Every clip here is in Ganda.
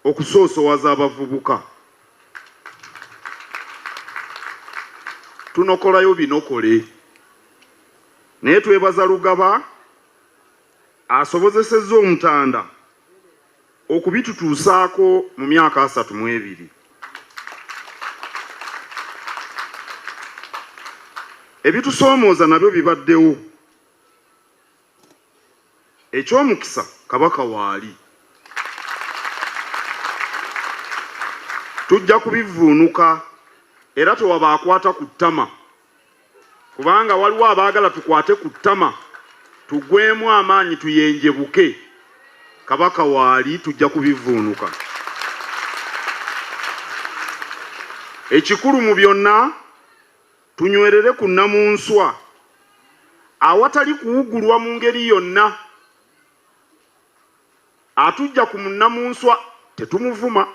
okusoosowaza abavubuka tunokolayo binokole naye twebaza Lugaba asobozesezza Omutanda okubitutuusaako mu myaka asatu mu ebiri. Ebitusoomooza nabyo bibaddewo. Eky'omukisa Kabaka waali. Tujja kubivvuunuka era tewaba akwata ku ttama kubanga waliwo abaagala tukwate ku ttama tugwemu amaanyi tuyenjebuke. Kabaka waali tujja kubivvuunuka. Ekikulu mu byonna Tunywerere ku Nnamunswa awatali kuwugulwa mu ngeri yonna. Atuggya ku munnamunswa tetumuvuma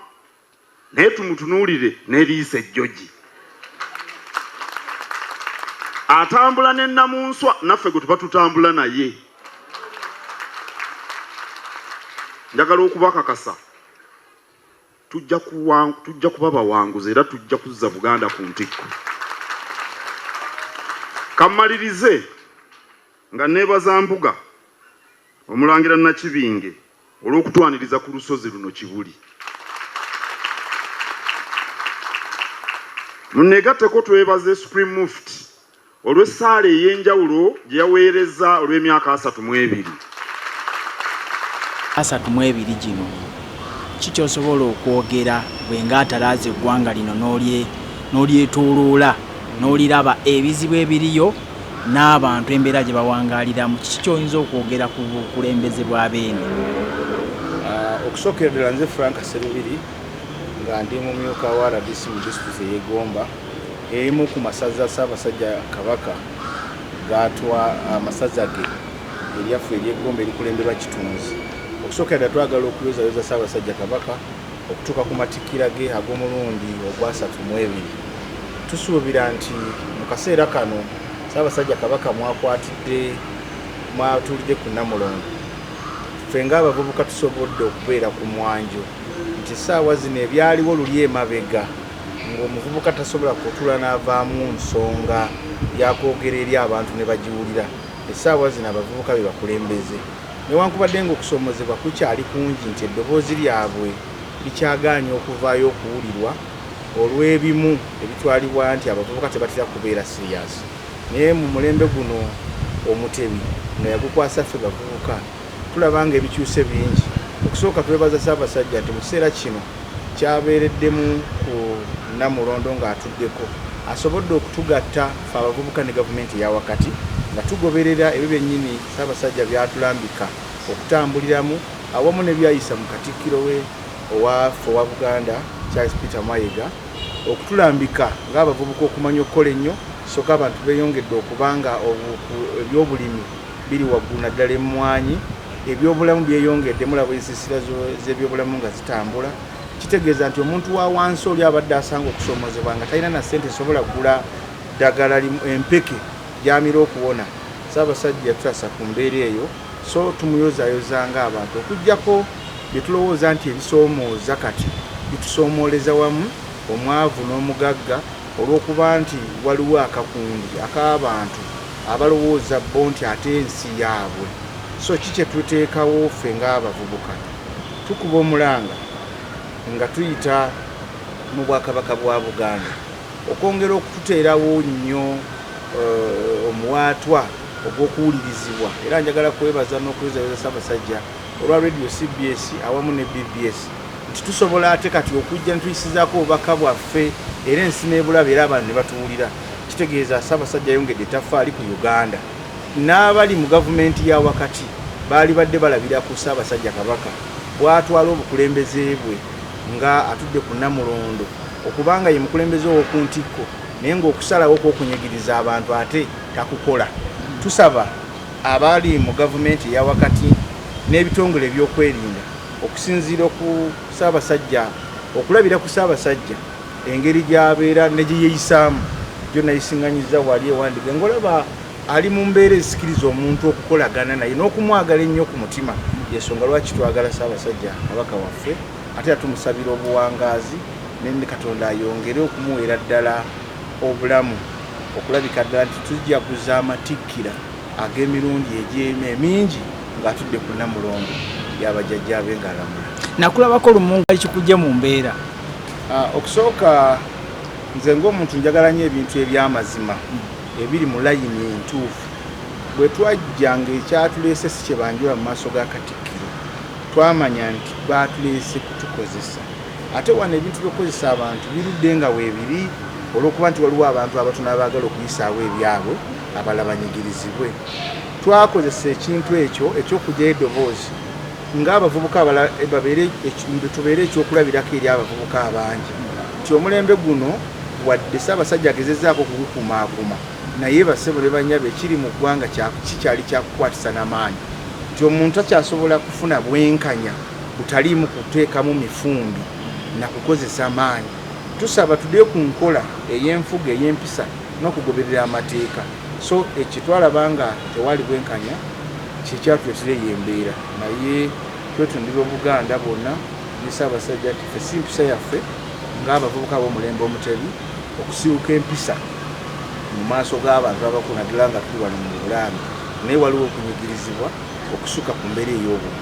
naye tumutunuulire n'eriiso ejjogi. Atambula ne Nnamunswa naffe gwe tuba tutambula naye. Njagala okubakakasa. Tujja kuwa, tujja kuba bawanguzi era tujja kuzza Buganda ku ntikko. Kammalirize nga neebaza Mbuga Omulangira Nakibinge olw'okutwaniriza ku lusozi luno Kibuli. Muneegatteko twebaze Supreme Mufti olw'essaala ey'enjawulo gye yaweerezza olw'emyaka asatu mu ebiri. asatu mu ebiri gino. Ki ky'osobola okwogera ggwe ng'atalaaze eggwanga lino n'olye n'olyetooloola n'oliraba ebizibu ebiriyo n'abantu embeera gye bawangaaliramu? Kiki ky'oyinza okwogera ku bukulembeze bwa Beene? Okusookera ddala nze Frank Ssemibiri nga ndi mumyuka wa rdc mu disitulikiti ey'e Gomba. Erimu ku masaza Ssaabasajja Kabaka gaatwa amasaza ge eryaffe ery'e Gomba erikulemberwa Kitunzi. Okusookera ddala twagala okuyozayoza Ssaabasajja Kabaka okutuuka ku matikkira ge ag'omulundi ogwasatu mu ebiri. Tusuubira nti mu kaseera kano Ssaabasajja Kabaka mwakwatidde mwatuulidde ku Namulondo. Ffe ng'abavubuka tusobodde okubeera ku mwanjo nti ssaawa zino ebyaliwo luli emabega, ng'omuvubuka tasobola kutuula n'avaamu nsonga ya kwogera eri abantu ne bagiwulira, essaawa zino abavubuka be bakulembeze newankubadde ng'okusoomozebwa kukyali kungi nti eddoboozi lyabwe likyagaanyi okuvaayo okuwulirwa olw'ebimu ebitwalibwa nti abavubuka tebatera kubeera siriyaasi naye mu mulembe guno omutebi nga yagukwasa ffe bavubuka tulaba nga ebikyuse bingi okusooka twebaza ssaabasajja nti mu kiseera kino kyabeereddemu ku Namulondo ng'atuddeko asobodde okutugatta ffe abavubuka ne gavumenti eya wakati nga tugoberera ebyo byennyini Ssaabasajja by'atulambika okutambuliramu awamu ne byayisa mu Katikkiro we owa ffe owa Buganda Charles Peter Mayega okutulambika ng'abavubuka okumanya okukola ennyo ssoka abantu beeyongedde okuba nga ebyobulimi biri waggulu naddala emmwanyi ebyobulamu byeyongedde mulaba ensisira z'ebyobulamu nga zitambula kitegeeza nti omuntu wa wansi oli abadde asanga okusoomozebwa nga talina na ssente esobola kugula ddagala empeke gyamira okuwona saabasajja yatutasa ku mbeera eyo so tumuyozayozanga abantu okugyako byetulowooza nti ebisoomooza kati bitusoomooleza wamu omwavu n'omugagga Olw'okuba nti waliwo akakundi ak'abantu abalowooza bo nti ate ensi yaabwe, so ki kye tuteekawo ffe ng'abavubuka? Tukuba omulanga nga tuyita mu Bwakabaka bwa Buganda okwongera okututeerawo nnyo omuwaatwa ogw'okuwulirizibwa era njagala kwebaza n'okunyweza Ssaabasajja olwa Radio cbs awamu ne bbs. nti tusobola ate kati okujja netuyisizaako obubaka bwaffe era ensi nebulaba era abantu nebatuwulira kitegeeza Ssaabasajja ayongedde etafaali ku Uganda n'abali mu gavumenti ya wakati baali badde balabira ku Ssaabasajja Kabaka bwatwala obukulembeze bwe nga atudde ku Namulondo okubanga ye mukulembeze ow'oku ntikko naye ng'okusalawo kw'okunyigiriza abantu ate takukola tusaba abali mu gavumenti eya wakati n'ebitongole ebyokwerinda Okusinziira ku Ssaabasajja, okulabira ku Ssaabasajja engeri gy'abeera ne gye yeeyisaamu gyo nayisinganyizza wali ewandiga ng'olaba ali mu mbeera ezisikiriza omuntu okukolagana naye n'okumwagala ennyo ku mutima yensonga lwaki twagala Ssaabasajja kabaka waffe ate era tumusabira obuwangaazi ne Katonda ayongere okumuweera ddala obulamu okulabika ddala nti tujaguza amatikkira. ag'emirundi egy'emya emingi ng'atudde ku namulongo yabajjajjaabe ng'alamula nakulabako lumu nga kikujja mu mbeera ah, okusooka nze ng'omuntu njagala nnyo ebintu eby'amazima ebiri mu layini entuufu bwe twajja ng'ekyatuleese si kye banjula mu maaso ga katikkiro twamanya nti baatuleese kutukozesa ate wano ebintu by'okukozesa abantu birudde nga weebiri olw'okuba nti waliwo abantu abatono abaagala okuyisaawo ebyabwe abalala banyigirizibwe. Twakozesa ekintu ekyo eky'okugyayo eddoboozi ng'abavubuka abalala eh, babeere tubeere ekyokulabirako eri abavubuka abangi nti omulembe guno wadde Ssaabasajja agezezaako okugukumaakuma naye basebo ne banyabo ekiri mu ggwanga kikyali kyakukwatisa n'amaanyi nti omuntu akyasobola kufuna bwenkanya butaliimu kuteekamu mifumbi na kukozesa maanyi tusaba tudde ku nkola ey'enfuga ey'empisa nokugoberera amateeka so ekyo twalaba nga tewali bwenkanya kyekyatuletera eyo embeera naye twetundira obuganda bwonna ne ssaabasajja nti fe si mpisa yaffe ng'abavubuka b'omulembe omutebi okusibuka empisa mu maaso g'abantu abakulu naddala nga tuli wano mu bulaami naye waliwo okunyigirizibwa okusuka ku mbeera ey'obuntu